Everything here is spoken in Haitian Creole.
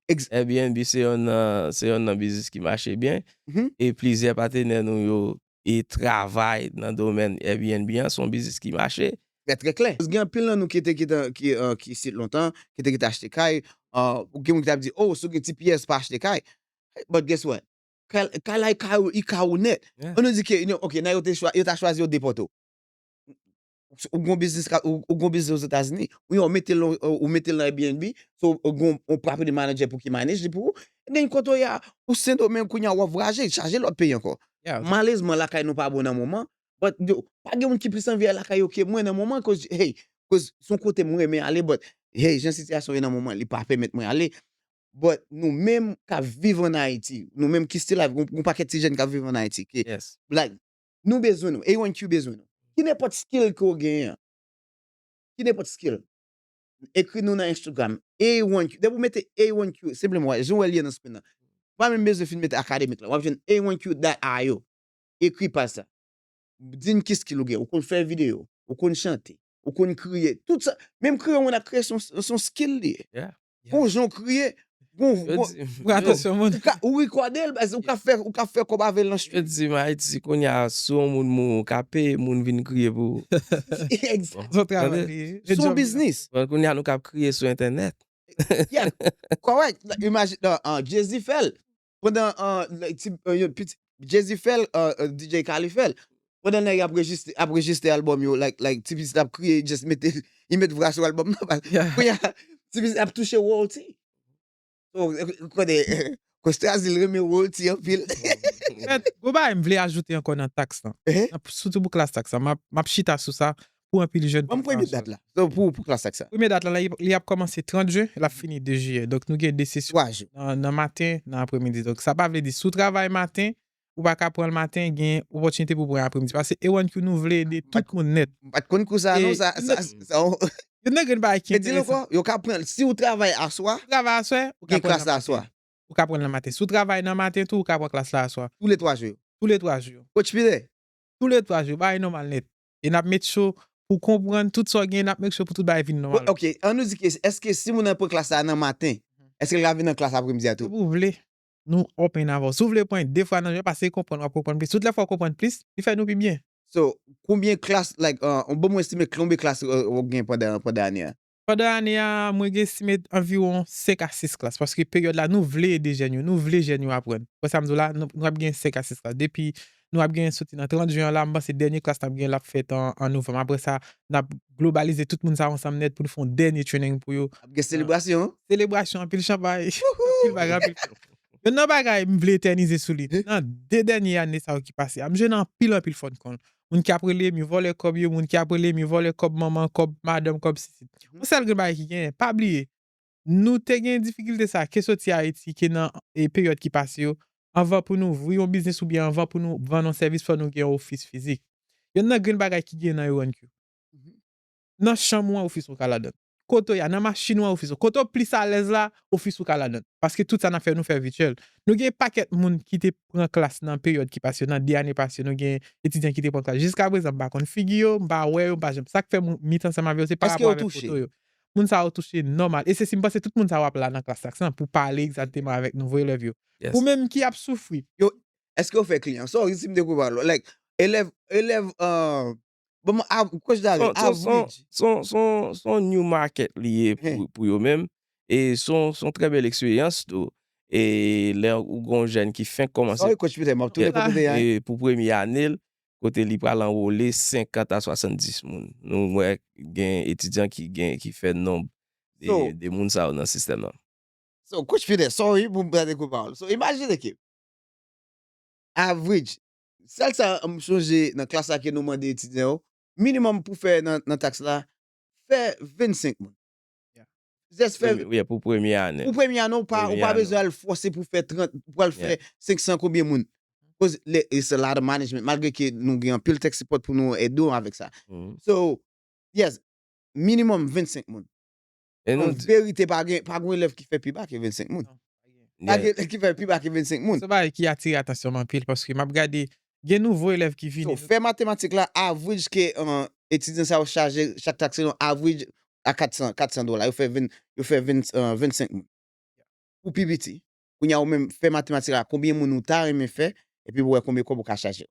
Airbnb se yonn nan biznis ki mache byen e plizyè patenè nou yo e travay nan domèn Airbnb an, son biznis ki mache. Trè trè klè. Gen anpil nan nou ki te kite ki isit lontan, ki te kite achte kay, gen moun ki tap di oh si w gen ti pyès pa achte kay, but guess what? Kay la e ka ou net. An nou di ke ok nan yo ta chwazi yo depòte w. ou gon biznis ka ou ou gon biznis ozetazini ou yon metel nan ou metel nan Airbnb so ou gon on property manager pou ki manage li pou ou ebyen kote ou ye a ou sendomeng kounye a wap vwayaje chaje lòt peyi ankò Yeah. malezman lakay nou pa bon nan moman but yo pa gen moun ki plis anvi al lakay yo ke mwen nan moman koz hey koz son kote m renmen ale but hey jan sitiyasyon ye nan moman li pa pèmèt mwen ale but nou menm kap viv an Ayiti nou menm ki still ap gon gon pakèt ti jèn kap viv an Ayiti ke Yes. like Nou bezwen nou. Anyone Q bezwen nou. Ki nenpòt skill ke w genyen an. Ki nenpòt skill. Ekri nou nan Instagram. Anyone Q. Depi w mete Anyone Q. Senpleman wè. Jan w wè li an nan screen nan. Ou pa menm bezwen fin mete akademik la. Wap jwenn Anyone Q dat io. Ekri paj sa. Di n ki skill ou gen. Ou konn fè videyo. Ou konn chante. Ou konn kriye. Tout sa. Menm kriye yon moun ap kriye se yon skill li ye. Yeah. Gon jan w kriye. Gon, gon, ou rekòde l, ou ka fè, ou ka fè kòb avè l nan street. Yo di m Ayiti kounye a, si yon moun mouri ou ka peye moun vin kriye pou ou. Son travay li ye. Se yon biznis. Kounye a nou kab kriye sou entènèt. Yeah, correct. Imagine, Jay-Z fè l. pandan Jezi fèl DJ Khaled fèl pandan nèg ap rejistre album yo like ti pitit ap kriye just mete li met vra sou album nan kounya ti pitit ap touche royalty ou konnen Costa di l renmen royalty anpil. Yon bagay m vle ajoute ankò nan tax lan soutou pou klass tax lan map chita sou sa pou anpil jèn pou pran sòl la. Premye dat la, li ap kòmanse 30 jen, l ap fini 2 jiyè. Donk nou gen 2 sesyon nan maten, nan apremidi. Donk sa pa vle di si w travay maten, ou pa ka pran l maten, gen opòtinite pou w pran apremidi. Pase A1Q nou vle ede tout moun nèt. M pa t konn kou sa non, sa yon. Youn nan grenn bagay ki enteresan. Di l ankò, yo ka pran l si w travay aswa. Si w travay aswè, ou ka pran l nan maten. Ou gen klas la aswa. Ou ka pran l nan maten. Si w travay nan maten tou, ou ka pran klas la aswa. Toule 3 jou yo. Toule 3 jou yo. Kotch Pire? Toule 3 jou yo, bagay nòmal nèt. e n ap met cho pou w konprann tout sa w genyen, n ap met cho pou tout bagay vin nòmal. Ok, an nou di ke, èske si moun nan pran klas la nan maten, èske l ka vin nan klas apremidi a tou? Depi w vle, nou open avè w. Si w vle pran de fwa nan jounen, pase konprann, w ap konprann plis. Tout lè fwa w konprann plis, li fè nou pi byen. So, konbyen klas, like, bon mwen estime, konbyen klas ou gen pandan ane a? Pandan ane a, mwen gen estime anviwon 5 a 6 klas, paske peryòd la nou vle ede jèn yo, nou vle jèn yo aprann. Wè sa m di w la, nou ap gen 5 a 6 klas. Depi nou ap gen soti nan 30 jen an la, m panse dènye klas n ap gen l ap fèt an novanm. Apre sa, n ap globalize tout moun sa yo ansanm nèt pou nou fè yon dènye training pou yo. Ap gen selebrasyon? Selebrasyon, anpil chanpay, anpil bagay, anpil fèt. Youn nan bagay m vle etènize sou li, nan 2 dènye ane sa yo ki pase a, m jwenn anpil anpil fòn kòl. moun ki ap rele m yo vòlè kòb yo, moun ki ap rele m yo vòlè kòb manman, kòb madanm, kòb sisi. Yon sèl grenn bagay ki genyen, pa bliye, nou te gen difikilte sa ke soti Ayiti, ke nan peryòd ki pase yo, anvan pou nou ouvri yon biznis oubyen anvan pou nou vann yon sèvis fò nou gen yon ofis fizik. Yonn nan grenn bagay ki genyen nan Eurone Q, nan chanm ou an ofis ou ka ladan l. kote w ye a, nan machin ou an, ofis ou. Kote w plis alèz la, ofis ou ka ladan l. Paske tout sa n ap fè, nou fè vityèl. Nou gen pakèt moun ki te pran klas nan peryòd ki pase yo, nan 2 ane pase yo, nou gen etidyan ki te pran klas. Jiska prezan, m pa konn figi yo, m pa wè yo, m pa janm. Sa k fè m meet ansanm avè yo, se parapò avèk foto yo. Moun sa yo touche nòmal. E se si m panse tout moun sa yo ap la nan klas sa pou pale egzakteman avèk nouvo elèv yo. Ou menm ki ap soufri. Yo, èske yo fè kliyan? Sori si m te koupe pawòl ou. Like, elèv, elèv, Bon, a, kòj da rèl, a vouj. Son, son, son new market li ye pou yo menm. E son, son trè bèl eksperyans tou. E lè ou gon jèn ki fenk kòmanse. Sa wè kòj Peter, map tounen kòt ou te a. E pou premye ane l, kote li pral anwole 50 a 70 moun. Nou wè gen etidyan ki gen, ki fè nonb de moun sa yo nan sistèm nan. So, kòj Peter, sorry pou m pran de kou pawòl. So, imajine ke, a vouj, Sal sa m sonje nan klas la ke nou mande etidyan yo, minimum pou fè nan tax la, fè 25 moun. Just fè. Yeah pou premye ane. Pou premye ane ou pa ou pa bezwen al fòse pou fè 30, ou pral fè 500 konbyen moun. Koz le it's a lot of management malgre ke nou gen anpil tech support pou nou ede w avèk sa. So yes minimum 25 moun. E nou An di. verite, pa gen, pa gon elèv ki fè pi ba ke 25 moun. Non, pa gen. Pa gen elèv ki fè pi ba ke 25 moun. Se yon bagay ki atire atansyon m anpil paske m ap gade gen nouvo elèv ki vini. Fè matematik la, average ke etidyan sa yo chaje chak trak se yon average a 400, 400 dola. Yo fè 20, yo fè 20, 25 moun. Pou pi piti. Kounye a ou menm fè matematik la konbyen moun ou ta renmen fè epi pou wè konbyen kòb ou ka chaje yo.